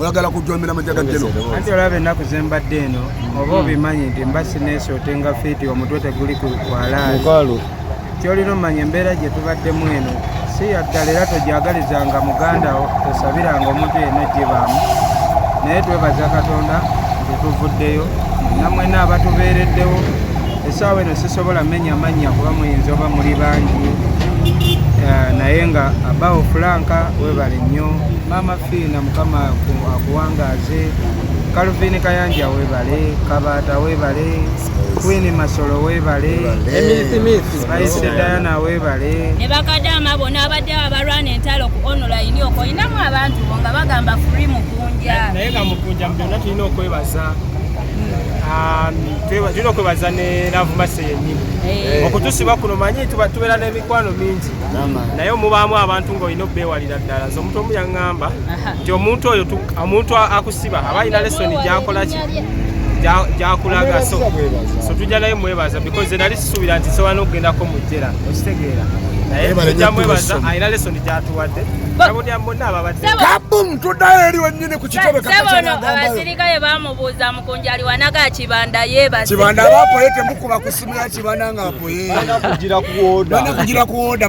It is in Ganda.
oyagala kujombera majaga geno anti olaba ennaku zembadde eno oba obimanyi nti mba sineesi otenga fiiti omutwe teguli kukwalaali kyolina omanya embeera gye tubaddemu eno si yaddala era togyagalizanga muganda wo tosabiranga omuntu yenna gibaamu naye twebaza katonda nti tuvuddeyo namwena abatubeereddewo esaawa eno sisobola menya mannya kuba muyinza oba muli bangi eh, naye nga abawo fulanka webale nnyo Fiina mukama akuwangaaze Calvin Kayanja webale Kabata webale Queen Masolo webale Spice Diana webale ne bakadama bona abadde abalwana entalo ku online oko inamu abantu nga bagamba free mukunja naye nga mukunja mbyona tulina okwebaza tulina okwebaza ne navumase yenyini eh. okutusiba kuno manyi tubeera n'emikwano mingi naye omubaamu abantu ngaolina obeewalira ddala nze omuntu omu yaŋŋamba nti omuntu oyo omuntu akusiba aba alina lesoni gyakola ki gyakulaga so so tujja naye mwebaza because nali sisuubira nti sobola n'okugendako mu jjera okitegeera naye tujja mwebaza alina lesoni gyatuwadde kabum tuddayo eri wennyini ku kitebekakakyono abasirikale bamubuuza mukunjali wanaga kibanda yebakibanda abapoye temukuba ku simu ya kibanda ng'apoye banakugira ku woda